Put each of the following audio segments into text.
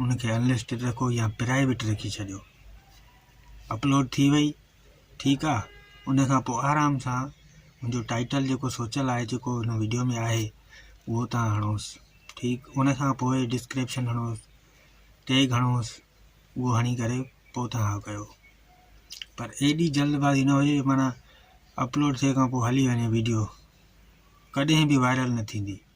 ان کي انلسٽيڊ رکو يا پرائيويٽ رکي ڇڏيو اپلوڊ ٿي وئي ٺيڪ آ ان کان پوء آرام سان منهنجو ٽائيٽل جيڪو سوچل آهي جيڪو هن ويڊيو ۾ آهي اهو تان هڻوس ٺيڪ ان کان پوء ڊسڪرپشن هڻوس ٽيگ هڻوس اهو هڻي ڪري پوء تان ڪيو پر ايڏي جلدبازي نه هجي معنی اپلوڊ ٿي کان پوء هلي وڃي ويڊيو ڪڏهن به وائرل نه ٿيندي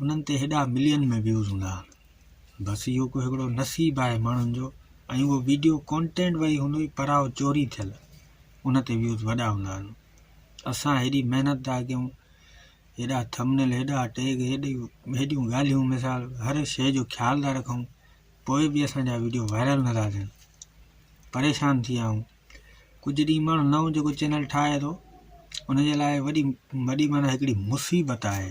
انهن تي هيڏا ملين ۾ ويوز هوندا آهن بس اهو ڪو هڪڙو نصيب آهي ماڻهن جو ۽ اهو ويڊيو ڪونٽينٽ وئي هوندو ئي پراو چوري ٿيل ان تي ويوز وڏا هوندا آهن اسان هيڏي محنت ٿا ڪيون هيڏا ٿمنل هيڏا ٽيگ هيڏي هيڏيون ڳالهيون مثال هر شيء جو خيال ٿا رکون پوء به اسان جا ويڊيو وائرل نه ٿا ٿين پريشان ٿي ويا آهيون ڪجهه ڏينهن ماڻهو نئون جيڪو چينل ٺاهي ٿو ان جي لاء وڏي وڏي مانا هڪڙي مصيبت آهي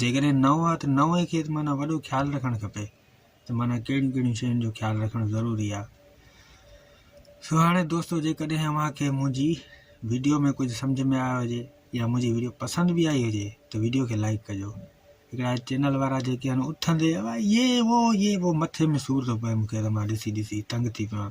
جيڪڏهن نئون آهي ته نئون کي ته معنيٰ وڏو خيال رکڻ کپي ته معنيٰ ڪهڙيون ڪهڙيون شين جو خيال رکڻ ضروري آهي سو هاڻي دوستو جيڪڏهن اوهان کي منهنجي ويڊيو ۾ ڪجهه سمجھ ۾ آيو هجي يا منهنجي ويڊيو پسند به آئي هجي ته ويڊيو کي لائڪ ڪجو هڪڙا چينل وارا جيڪي آهن اٿندي يي وو يي وو مٿي ۾ سور ٿو پئي مونکي ته مان ڏسي ڏسي تنگ ٿي پيان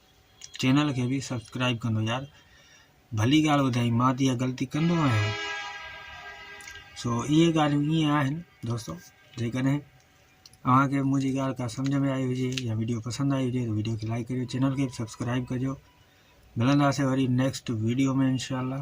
چينل کي به سبسڪرائب ڪندو يار ڀلي ڳالهه ٻڌائي مان ته غلطي ڪندو آهيان سو اهي ڳالهيون ائين آهن دوستو جيڪڏهن اوهانکي منهنجي ڳالهه کا سمجهه ۾ آئي هجي يا ويڊيو پسند آئي هجي ته ويڊيو کي لائڪ ڪريو چينل کي سبسڪرائب ڪجو ملنداسي وري نيڪسٽ ويڊيو ۾ انشاءالله